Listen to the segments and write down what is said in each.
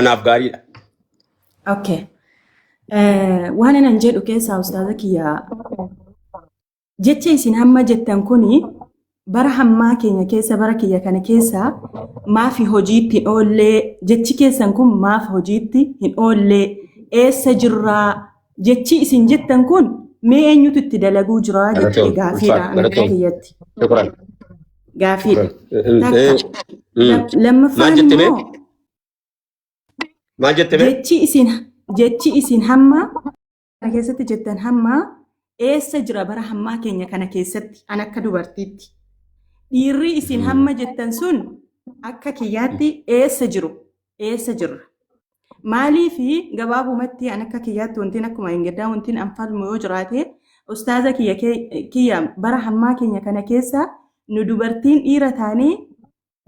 anaaf gaariidha. Okay. Eh, Waan anan jedhu keessaa ustaaza kiyya jecha isin hamma jettan kuni bara hammaa keenya keessa bara kiyya kana keessa maafi hojiitti hin oollee jechi keessan kun maaf hojiitti hin oollee eessa jirraa jechi isin jettan kun mee eenyutu itti dalaguu jiraa jechi Galatoom, gaafiidha ulfaadha, anaga galatoom. kiyyatti Shukran. gaafiidha. Shukran. Eh, eh, Takka. eh, mm. Lam- Lammaffaan Maal jette mee? immoo Maal jette mee? Jechi isin jechi isin hamma kana keessatti jettan hamma eessa jira bara hammaa keenya kana keessatti an akka dubartiitti. Dhiirri isin hamma jettan sun akka kiyyaatti eessa jiru eessa jirra. Maaliif gabaabumatti an akka kiyyaatti wantiin akkuma hin gaddaa wantiin an falmu yoo jiraate ustaaza kiyya kee- kiyya bara hammaa keenya kana keessa nu dubartiin dhiira taanee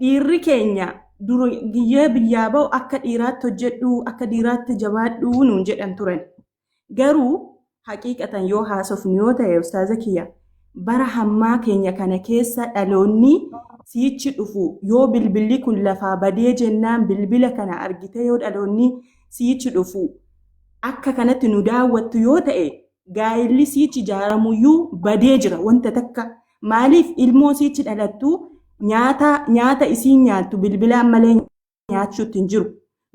dhiirri keenya dura giyyee biyyaa ba'u akka dhiiraatti hojjedhu akka dhiiraatti jabaadhu nuun jedhan turan garuu haqiiqatan yoo haasofnu yoo ta'e ustaaza kiyya bara hammaa keenya kana keessa dhaloonni siichi dhufu yoo bilbilli kun lafaa badee jennaan bilbila kana argite yoo dhaloonni siichi dhufu akka kanatti nu daawwattu yoo ta'e gaa'illi siichi ijaaramuyyuu badee jira wanta takka maaliif ilmoo siichi dhalattu nyaata nyaata isiin nyaattu bilbilaan malee nyaachuutti hin jiru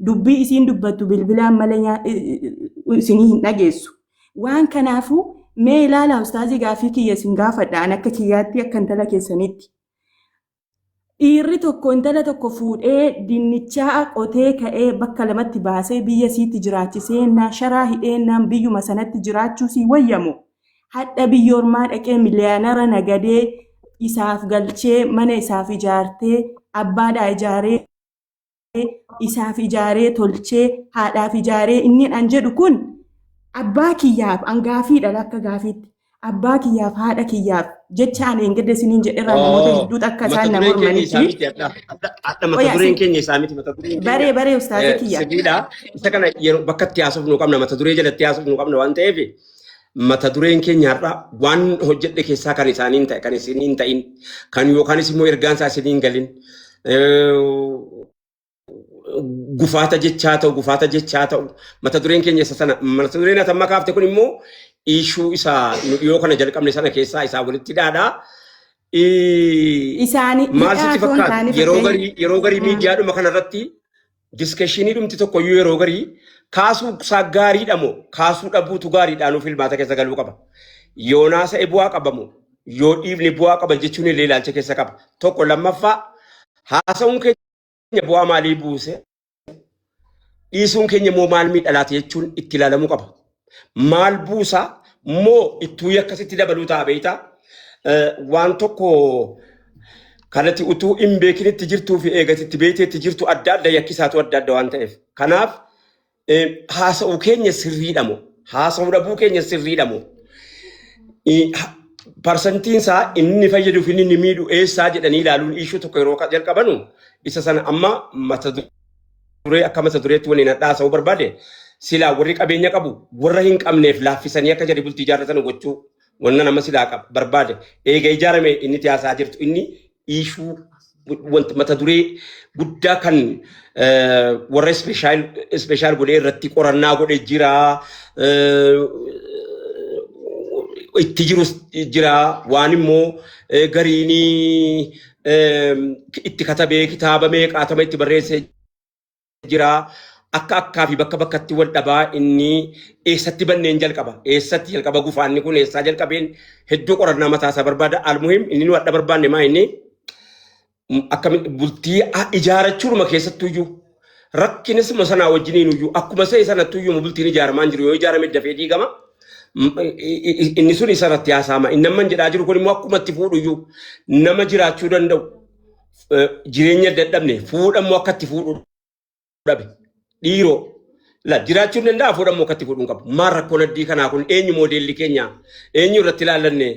dubbii isiin dubbattu bilbilaan malee nyaa- i- i- isinii hin dhageessu waan kanaafuu mee ilaala ustaazii gaafii kiyya isin gaafadha an akka kiyyaatti akka intala keessanitti Dhiirri tokko intala tokko fuudhee dinnichaa qotee ka'ee bakka lamatti baasee biyya isiitti jiraachisee naa sharaa hidhee naan biyyuma sanatti jiraachuu sii wayyamoo hadha biyya ormaa dhaqee miliyaanara nagadee isaaf galchee mana isaaf ijaartee abbaadhaa ijaaree isaaf ijaaree tolchee haadhaaf ijaaree inni an jedhu kun abbaa kiyyaaf an gaafiidha akka gaafiitti abbaa kiyyaaf haadha kiyyaaf jecha ani hin gadda isiniin jedherraa namoota Oo, hedduutu akka mata isaan na dureen keenya isaa mormanitti miti adda adda adda mata Oya, dureen si- keenya isaa miti mata dureen keenya baree baree ustaaza eh, kiyya sibiila isa kana yeroo bakka itti haasofnu nu qabna mata duree jalatti haasofnu nu qabna waan ta'eef mata dureen keenya har'a waan hojjedhe keessaa kan isaanii hin ta'e kan isiniin hin ta'in kan yookaanis immoo ergaan isaa isiniin galin gufaata jechaa ta'u gufaata jechaa ta'u mata dureen keenya isa sana mata dureen ati amma kaafte kun immoo ishuu isa nu dhiyoo kana jalqabne sana keessaa isaa walitti dhaadha. Isaanii Maal sitti fakkaata? Yeroo garii yeroo garii miidiyaadhuma kanarratti Diskeshinii dhumti tokkoyyuu yeroo garii kaasuu isaa gaariidha moo kaasuu dhabuutu gaariidha nuuf ilmaata keessa galuu qaba. Yoonaasa bu'aa qaba moo yoo dhiifne bu'aa qaba jechuun illee ilaalcha keessa qaba. Tokko lammaffaa haasa'uun keenya bu'aa maalii buuse dhiisuun keenya immoo maal miidhalaati jechuun itti ilaalamuu qaba. maal buusa moo ittuu yakkasitti dabaluu ta'a beeyta waan tokko kanatti utuu hin beekinitti jirtuu fi eegatitti beekteetti jirtu adda adda yakkisaatu adda adda waan ta'eef kanaaf haasa'u keenya sirriidha moo haasa'u dhabuu keenya sirriidha moo parsantiin isaa inni fayyaduu fi inni miidhu eessaa jedhanii ilaaluun iishuu tokko yeroo jalqabanu isa sana amma mata duree akka mata dureetti waliin hadhaasa'uu barbaade silaa warri qabeenya qabu warra hin qabneef laaffisanii akka jadi bultii ijaarratan gochuu wanna nama silaa qab- barbaade eega ijaarame inni itti haasaa jirtu inni iishuu wanta mata duree guddaa kan eh, warra ispeeshaal ispeeshaal godhee irratti qorannaa godhe jira eh, itti jirus jira waan immoo eh, gariinii itti katabee kitaaba meeqaatama itti barreessee jira. Akka akkaa fi bakka bakkatti wal dhabaa inni eessatti banneen jalqaba. Eessatti jalqaba gufaanni kun eessaa jalqabeen hedduu qorannaa mataa isaa barbaada. Almuhim inni nu adda barbaanne maa inni akkamitti bultii ijaarachuudhuma keessattuu iyyuu rakkinisuma sanaa wajjiniin iyyuu akkuma se'e sanatti iyyuu bultiin ijaaramaan jiru yoo ijaarame dafee diigama. M- i- i- i- Inni sun isa irratti haasaama. Inni amma jedhaa jiru kun immoo akkuma itti fuudhu iyyuu nama jiraachuu danda'u eh, jireenya dadhabne fuudha immoo akka itti fuudhu dhabe dhiiroo la jiraachuu hin danda'a fuudha immoo akka itti fuudhu hin qabu. Maal rakkoon addii kanaa kun eenyu moodeelli keenya eenyu irratti ilaallanne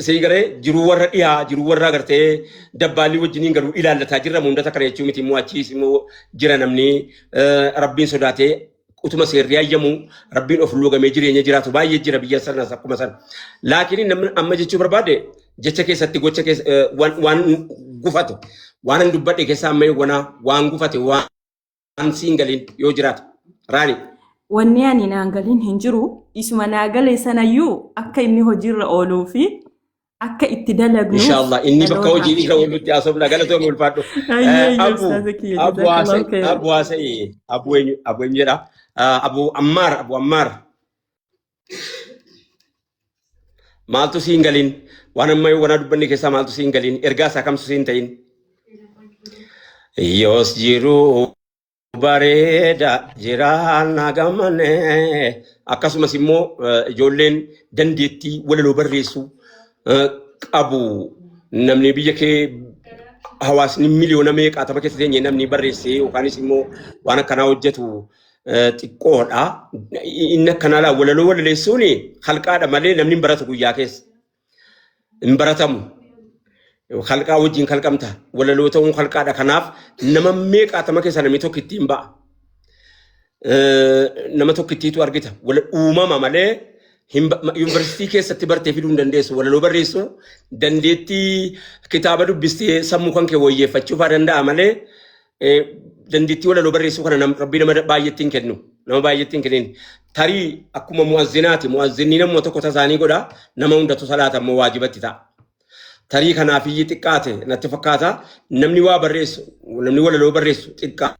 sii galee jiruu warra dhiyaa jiruu warra agartee dabbaallii wajjiniin galu ilaallataa jirra hundata kana jechuu miti immoo achiis immoo jira namni eh, rabbiin sodaatee utuma seerri hayyamu rabbiin of luugamee jireenya jiraatu baay'ee jira biyya sanas akkuma sana. Laakiin namni amma jechuu barbaade jecha keessatti gocha keessa eh, waan waan gufate waan hin dubbadhe keessa amma eegwanaa waan gufate waan waan siin galiin yoo jiraate raani. Wanni ani naan galiin hin jiru isuma naa galee sanayyuu akka inni hojiirra ooluu fi akka itti dalagnu. Inshaallah inni bakka dhaloota hojii irra oolutti haasofna galatoomi ulfaadhu. Ayyee, Eh, ayyee, Abu ustaaza kiyya, Abu jazakallahu Haasa'e khairan. Abu Haasa'e Abu eenyu Abu eenyu jedha Eh, Abu Ammaar Abu Ammaar Maaltu siin galiin? Waan amma wanaa dubbanne keessaa maaltu siin galiin? Ergaa isaa kamtu siin ta'in? Yoos jiruu bareeda jiraannaa gammanne akkasumas immoo eh, ijoolleen dandeettii walaloo barreessuu eh, qabu namni biyya kee hawaasni miliyoona meeqaatama keessa teenye namni barreessee yookaanis immoo waan akkanaa hojjetu xiqqoodha. Inni akkanaa walaloo walaleessuun halqaadha malee namni hin baratu guyyaa keessa. Hin baratamu. Halqaa wajjin kalqamta. Walaloo ta'uun halqaadha. Kanaaf nama meeqaatama keessa namni tokko ittiin ba'a. Nama tokko ittiitu argita. Uumama malee yuunivarsiitii keessatti bartee fiduu hin dandeessu. Walaloo barreessuu dandeettii kitaaba dubbistee sammuu kan kee wayyeeffachuu fa'aa danda'a malee Eh, dandeettii walaloo barreessuu kana nam, rabbii nama baay'eetti hin kennu nama baay'eetti hin kennin tarii akkuma mu'azzinaati mu'azzinni namuma tokko tasaanii godha nama hundatu salaata immoo waajibatti ta'a tarii kanaaf iyyi xiqqaate natti fakkaata namni waa barreessu namni walaloo barreessu xiqqaa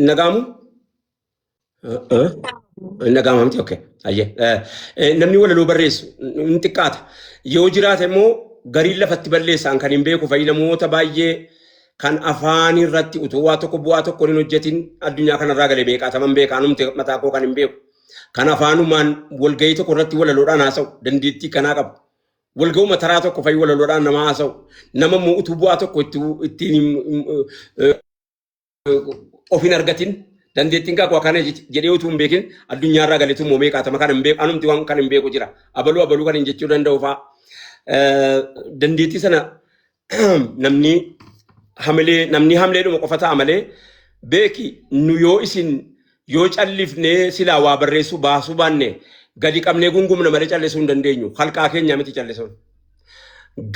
nagaamu Hin dhaga'ama miti okay. Ayyee. Eh, eh, Namni walaloo barreessu hin xiqqaata. Yoo jiraate immoo gariin lafatti balleessaan kan hin beeku fa'i namoota baay'ee kan afaan irratti utuu waa tokko bu'aa tokko hin hojjetin addunyaa kanarraa galee meeqaataman beekaa numti mataa koo kan hin beeku. Kan afaanumaan walgahii tokko irratti walaloodhaan haasa'u dandeettii kanaa qabu. Walgahuma taraa tokko fa'i walaloodhaan nama haasa'u. Nama immoo utuu bu'aa tokko itti ittiin hin- hin- of hin argatin dandeettiin kaakuu akkana jedhee utuu hin beekin addunyaarraa galetu moomee qaatama kan hin beeku anumti waan kan hin beeku jira abaluu abaluu kan hin jechuu danda'u fa'a dandeettii sana namni hamilee namni hamilee dhuma qofa ta'a malee beeki nu yoo isin yoo callifnee silaa waa barreessuu baasuu baanne gadi qabnee gungumna malee callisuu hin dandeenyu halqaa keenya miti callisuun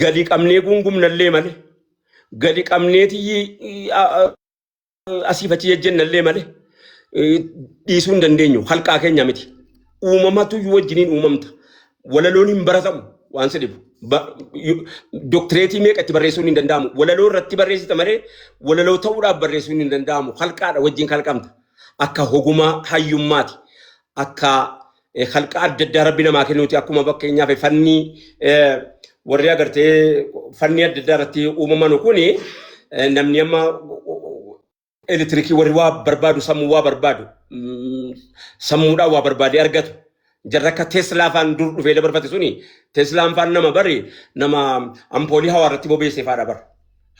gadi qabnee gungumnallee malee gadi qabneeti asiif achi jejjennallee malee dhiisuu hin dandeenyu. Halqaa keenya miti. Uumamatu wajjiniin uumamta. Walaloon hin baratamu waan si dhibu. Doktireetii meeqa itti barreessuun hin danda'amu. Walaloo irratti barreessita malee walaloo ta'uudhaaf barreessuun hin danda'amu. Halqaadha wajjin kalqamta. Akka hogumaa hayyummaati. Akka eh, halqa adda addaa rabbi namaa kennuuti akkuma fakkeenyaaf eh, fannii eh, warri agartee fannii adda addaa irratti uumamanu kun eh, namni amma elektirikii warri waa barbaadu sammuu waa barbaadu mm, sammuudhaan waa barbaadee argatu jarri akka teeslaa faan dur dhufee dabarfate suni teeslaan faan nama bari nama ampoolii hawaa irratti bobeessee faadha bara.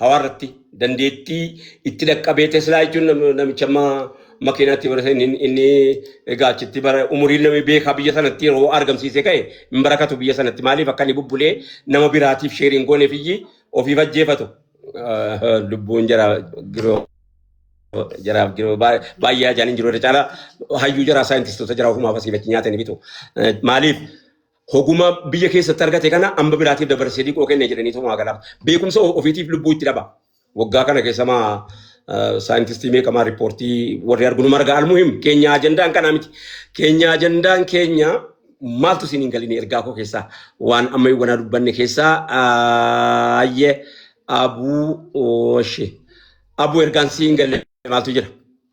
hawaa irratti dandeettii itti dhaqqabee Teslaa jechuun namicha amma makiinaatti bara inni inni egaa achitti bara umuriin namni beekaa biyya sanatti yeroo argamsiisee ka'e hin barakatu biyya sanatti maaliif akka inni bubbulee nama biraatiif sheeriin goone fiyyi ofiif ajjeefatu lubbuun jara giroo jaraaf giroo baay'ee ajaan hin jiru irra caalaa hayyuu jaraa saayintistoota jaraa ofumaaf asii bachi nyaatanii bitu maaliif Hoguma biyya keessatti argate kana amba biraatiif dabarsee diqoo kenne jedhanii tumaa galaaf. Beekumsa o- ofiitiif lubbuu itti dhaba. Waggaa kana keessa maa eh, saayintistii meeqamaa riippoortii warri argunu marga almuhim keenya ajandaan kanaa miti. Keenya ajandaan keenya maaltu isin hin galine ergaa koo keessaa waan amma wanaa dubbanne keessaa aayye abuu ooshe. Abuu ergaan si hin galle maaltu jira?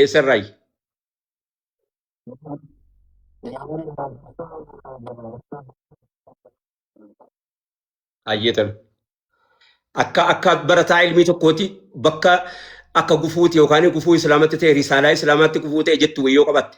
Eessarraayi? Ayyeetan. Akka akka barataa ilmii tokkooti bakka akka gufuuti yookaan gufuu islaamatti ta'e risaalaa islaamaatti gufuu ta'e jettu wayyoo qabatte.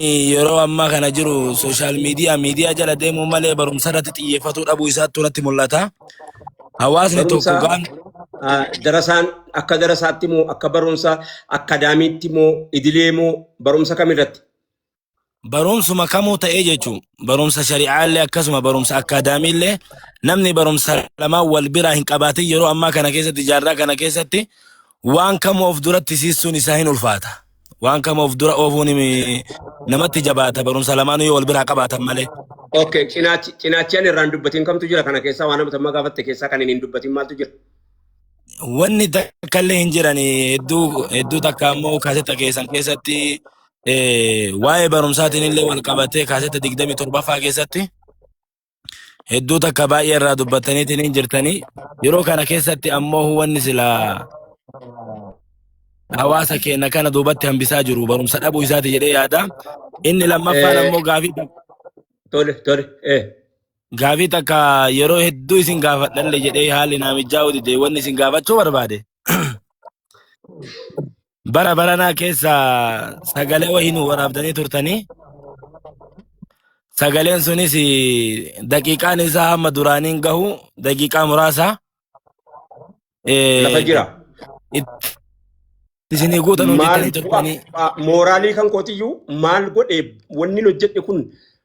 yeroo ammaa kana jiru sooshaal miidiyaa miidiyaa jala deemuu malee barumsa irratti xiyyeeffatuu dhabuu isaattu natti mul'ata. Hawaasni tokko Barumsa- gaan Ah, darasaan akka darasaatti moo akka barumsa akkaadaamiitti moo idilee moo barumsa kamirratti? barumsuma kamuu ta'ee jechuun barumsa shari'aallee akkasuma barumsa akkaadaamiillee namni barumsa lamaa wal biraa hin qabaatin yeroo ammaa kana keessatti jaarraa kana keessatti waan kamuu of duratti siissuun isaa hin ulfaata. Waan kamuu of dura oofuun himi- namatti jabaata barumsa lamaanuu yoo wal biraa qabaatan malee. Okay, cinaachi cinaachaan irraan dubbatiin kamtu jira kana keessaa waan amma gaafatte keessaa kan hin dubbatiin maaltu jira? Wanni takkallee hin jiran hedduu hedduu takka ammoo kaasetta keessan keessatti waa'ee barumsaatiin illee wal qabatee kaasetta digdamii torbaffaa keessatti hedduu takka baay'ee irraa dubbattaniitiin hin jirtanii yeroo kana keessatti ammoo hubanni silaa hawaasa keenya kana duubatti hambisaa jiru barumsa dhabuu isaati jedhee yaada. Inni lammaffaan ammoo gaafii tole tole ee gaafii takka yeroo hedduu isin gaafadhalle jedhee haalli naamichaa hojjete wanni isin gaafachuu barbaade. bara baranaa keessa sagalee wayii nu waraabdanii turtanii sagaleen sunis daqiiqaan isaa hamma duraaniin gahu daqiiqaa muraasa eh, Lafa jira. itti isinii guutan Maal hojjetanii turtanii mooraalii kan kootiyyuu maal godhe wanni hojjedhe kun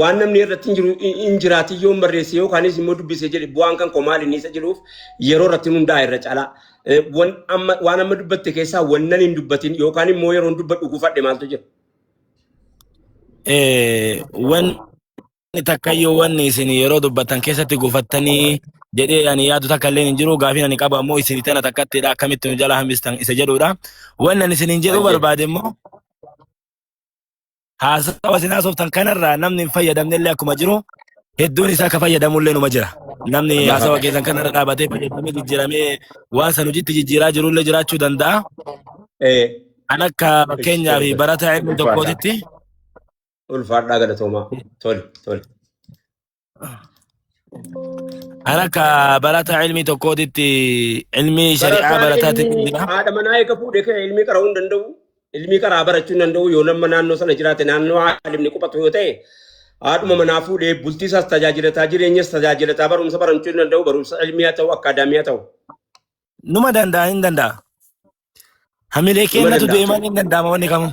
waan namni irratti hin jiru hin jiraatin yoo barreesse yoo kaanis immoo dubbise jedhe bu'aan kan koo maali inni isa jedhuuf yeroo irratti hundaa'e irra caalaa. Eh, wan amma- Waan amma dubbatte keessaa wannan hin dubbatin yookaan immoo yeroon dubbadhu gufadhe maaltu jira? Eh, wanni takka iyyuu wanni isin yeroo dubbattan keessatti gufattanii jedhee ani yaadu takka illee hin jiru gaafiin ani qabu ammoo isin tana takkattidha akkamitti nu jala hambistan isa jedhudha. Wanni ani isiniin jedhuu Hayyee. barbaade immoo Haasawa isin haasoftan kanarraa namni hin fayyadamne illee akkuma jiru hedduun isaa akka fayyadamu illee numa jira. Namni Bahaa haasawa ta'e. keessan kanarra dhaabatee fayyadamee jijjiiramee waan san hojiitti jijjiiraa jiru illee jiraachuu danda'a. Eh, Kan akka fakkeenyaa fi barataa ilmi tokkootitti Ulfaadhaa galatoomaa. Tole, tole. An akka barataa ilmii tokkootitti ilmii shari'aa Barataan barataatti ilmii jira. haadha manaa eega fuudhe kee ilmii qara'uu hin danda'u. Ilmii qaraa barachuu hin danda'u yoo nama naannoo sana jiraate naannoo haalimni quphatu yoo ta'e haadhuma manaa fuudhee bultii isaas tajaajilataa jireenyas tajaajilataa barumsa barachuu hin danda'u barumsa ilmii haa ta'u akkaadaamii haa ta'u Numa danda'a hin danda'a. Hamilee numa keennatu danda'a. du'e malee hin danda'ama wanni kamuu.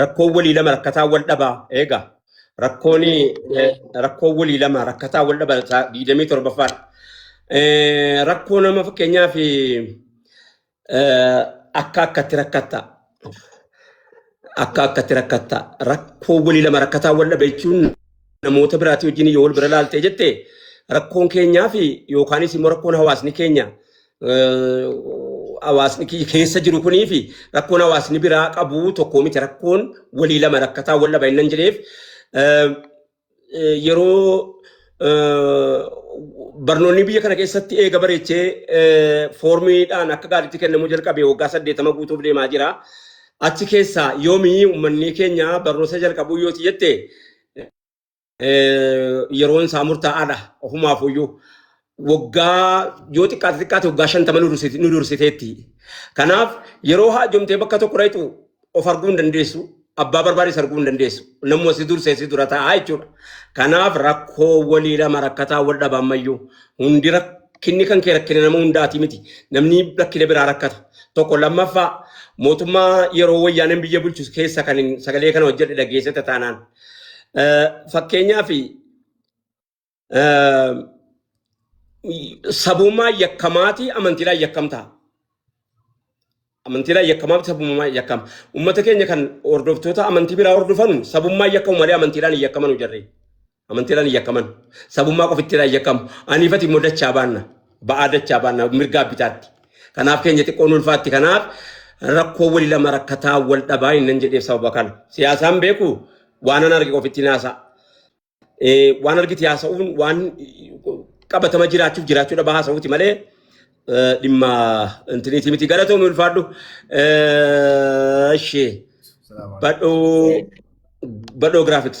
Rakkoon walii lama rakkataa wal dhabaa eegaa. Rakkoon eh, rakkoon walii lama rakkataa wal dhaba isaa digdamii torbaffaan. Eh, Rakkoo nama fakkeenyaaf eh, akka akkatti rakkatta. Akka akkatti rakkatta. Rakkoo walii lama rakkataa wal dhaba jechuun namoota biraatii wajjin yoo wal bira laaltee jette rakkoon keenyaa fi yookaanis immoo rakkoon hawaasni keenya hawaasni kiyya keessa jiru kunii fi rakkoon hawaasni biraa qabu tokkoo miti rakkoon walii lama rakkataa wal dhaba innan jedheef yeroo barnoonni biyya kana keessatti eega bareechee foormiidhaan akka gaariitti kennamuu jalqabe waggaa saddeetama guutuuf deemaa jira. Achi keessaa yoomii uummanni keenya barnoota jalqabuu yoo jette eh, yeroon isaa murtaa'aadha ofumaaf iyyuu waggaa yoo xiqqaate xiqqaate waggaa shantama nu dursite- nu dursiteetti. Kanaaf yeroo haajomtee bakka tokko dhayxu of arguu hin dandeessu. Abbaa barbaades arguu hin dandeessu. Namuma si dursee si dura taa'aa jechuudha. Kanaaf rakkoo walii lama rakkataa wal dhaba ammayyuu. Hundi rakkinni kan kee rakkina nama hundaati miti. Namni rakkina biraa rakkata. Tokko lammaffaa mootummaa yeroo wayyaaneen biyya bulchu keessa kan hin- sagalee kana hojjedhe dhageessetta taanaan. Fakkeenyaaf sabummaa yakkamaatii amantiidhaan yakkamtaa. Amantiidhaan yakkamaa fi sabummaa yakkama. Uummata keenya kan hordoftoota amantii biraa hordofan sabummaa yakkamu malee amantiidhaan hin yakkamanu jarri. Amantiidhaan hin yakkaman. Sabummaa qofittiidhaan yakkamu. Aniifati immoo dachaa baanna. ba'aa dachaa baanna mirgaa bitaatti. Kanaaf keenya xiqqoon ulfaatti kanaaf rakkoo wali lama rakkataa wal dhabaa innan jedheef sababa kana. Siyaasaan beeku waanan arge qofittiin haasa'a. Eh, Waan argite haasa'uun waan qabatama jiraachuuf jiraachuu dhabaa haasa'uuti malee eh, dhimma intiniitii miti galatoomi ulfaadhu. Eh, Ishee Salaamu alaikum. badhoo badhoo graphics.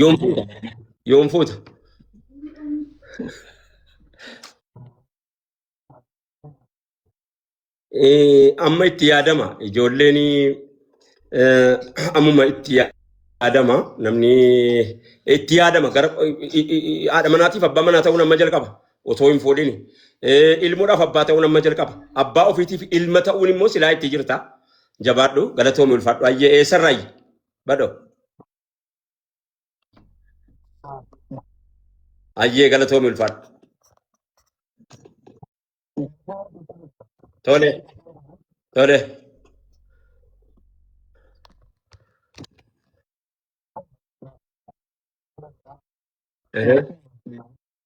Yoon fuuta. Yoon fuuta. Eh, Amma itti yaadama. Ijoolleen eh, ammuma itti yaadama. Namni itti yaadama. Gara i- i- i- haadha manaatiif abbaa manaa ta'uun amma jalqaba. otoo hin fuudhini. Eh, Ilmoodhaaf abbaa ta'uun amma jalqaba. Abbaa ofiitiif ilma ta'uun immoo silaa itti jirta. Jabaadhu, galatoomi ulfaadhu. Ayyee eessarraayi? Badho. Ayyee galatoomi ulfaadhu. Tole, tole. Eh,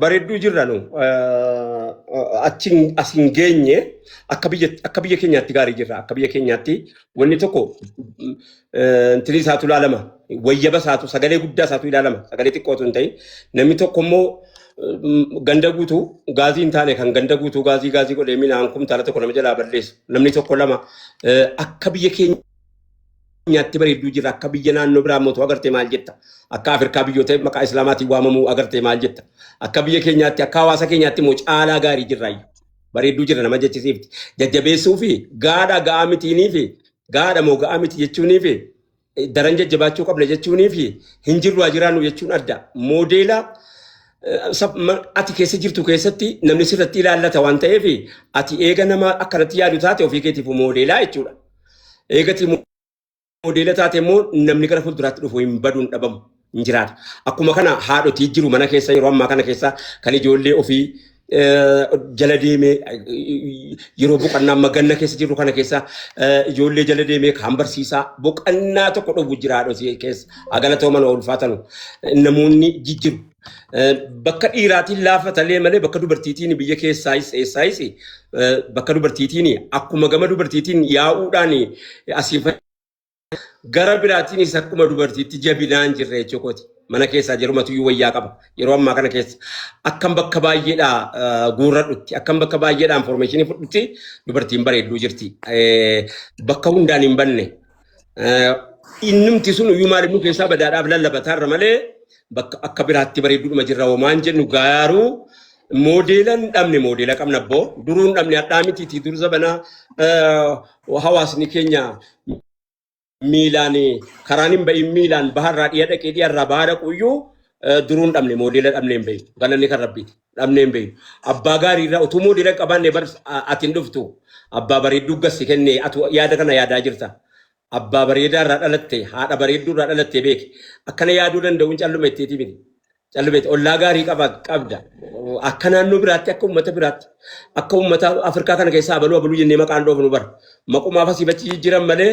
Bareedduu jirra nu achiin as hin geenye akka biyya akka biyya keenyaatti gaarii jirra akka biyya keenyaatti wanni tokko intilii isaatu ilaalama wayyaba isaatu sagalee guddaa isaatu ilaalama sagalee xiqqootu hin ta'in namni tokko immoo ganda guutuu gaazii hin taane kan ganda guutuu gaazii gaazii godhee minaan kumtaala tokko nama jalaa balleessu namni tokko lama akka biyya keenya nyaatti bareedduu jirra akka biyya naannoo biraa mootu agartee maal jetta akka Afrikaa biyyoota maqaa Islaamaatiin waamamuu agartee maal jetta akka biyya keenyaatti akka hawaasa keenyaatti immoo caalaa gaarii jirra ayyu bareedduu jirra nama jechisiifti jajjabeessuu fi gaadha ga'aa mitiinii fi gaadha moo ga'aa miti jechuunii fi daran jajjabaachuu qabna jechuunii fi hin jirru haa jiraannu jechuun adda moodeela ati keessa jirtu keessatti namni sirratti ilaallata waan ta'eef ati eega nama akkanatti yaadu taate ofii keetiif moodeelaa jechuudha. Eegatii moodeela taate immoo namni gara fuulduraatti dhufu hin baduun dhabamu hin jiraata. Akkuma kana haadhotii jiru mana keessa yeroo ammaa kana keessa kan ijoollee ofii jala deemee yeroo boqonnaa amma ganna keessa jirru kana keessa ijoollee jala deemee kan barsiisaa boqonnaa tokko dhufu jira haadhotii keessa agalatooman ulfaatanu namoonni jijjiru. Bakka dhiiraatiin laafa talee malee bakka dubartiitiin biyya keessaayis eessaayis bakka dubartiitiin akkuma gama dubartiitiin yaa'uudhaan asiin gara biraatiinis akkuma dubartiitti jabinaan jirre jechuukooti. Mana keessaa jarumatu iyyuu wayyaa qaba. Yeroo ammaa kana keessa akkam bakka baay'eedhaa guurradhutti akkam bakka baay'eedhaa informeeshinii fudhutti dubartiin bareedduu jirti. Bakka hundaan hin banne Eh, Innumti sun iyyuu maal nu keessaa badaadhaaf lallabataarra malee bakka akka biraatti bareedduudhuma jirra homaan jennu gaaruu moodeela hin dhabne moodeela qabna abboo duruu hin dhabne hadhaa mitiitii dur zabanaa eh, hawaasni keenya miilaan karaan hin bahin miilaan baharraa dhiya dhaqee dhiyarraa bahaa dhaquyyuu eh, duruu hin dhabne moodeela dhabne hin bahin galanni kan rabbiiti. dhabnee hin beeknu. Abbaa gaarii irraa utuu moodela hin qabaanne bar ati hin dhuftu. Abbaa bareedduu gas si kenne atu yaada kana yaadaa jirta. Abbaa bareedaa irraa dhalatte haadha bareedduu irraa dhalatte beeki. Akkana yaaduu danda'uun calluma ittiiti miti. Calluma itti ollaa gaarii qaba qabda. Akka naannoo biraatti akka uummata biraatti akka uummata Afrikaa kana keessaa abaluu abaluu jennee maqaan dhoofnu bar. Maqumaaf asii bachi jijjiiran malee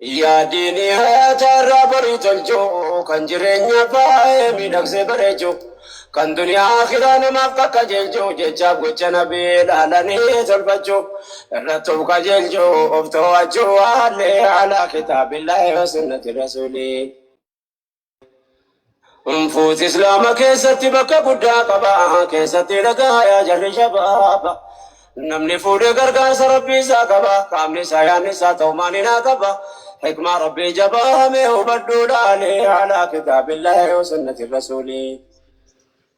Yaadni nihata irraa borii tolchu, kan jireenya baay'ee miidhagsee bareechu, kan duniyaa akhiraa namaaf qaqqajeelchu, jechaaf gocha nabii laalanii tolfachu, irratti of qajeelchu, of too'achu waallee alaa kitaabillaahi wa sunnati rasuulii. Unfuus Islaama keessatti bakka guddaa qaba. Keessatti dhagaayaa jarri shabaaba. Namni fuudhee gargaarsa rabbii isaa qaba. Qaamni isaa yaadni isaa ta'u maaliin haa qaba. Hikmaa rabbii jabaa hamee hubadhuu laalee. Alaa kitaabillaahi wa sunnati rasuulii.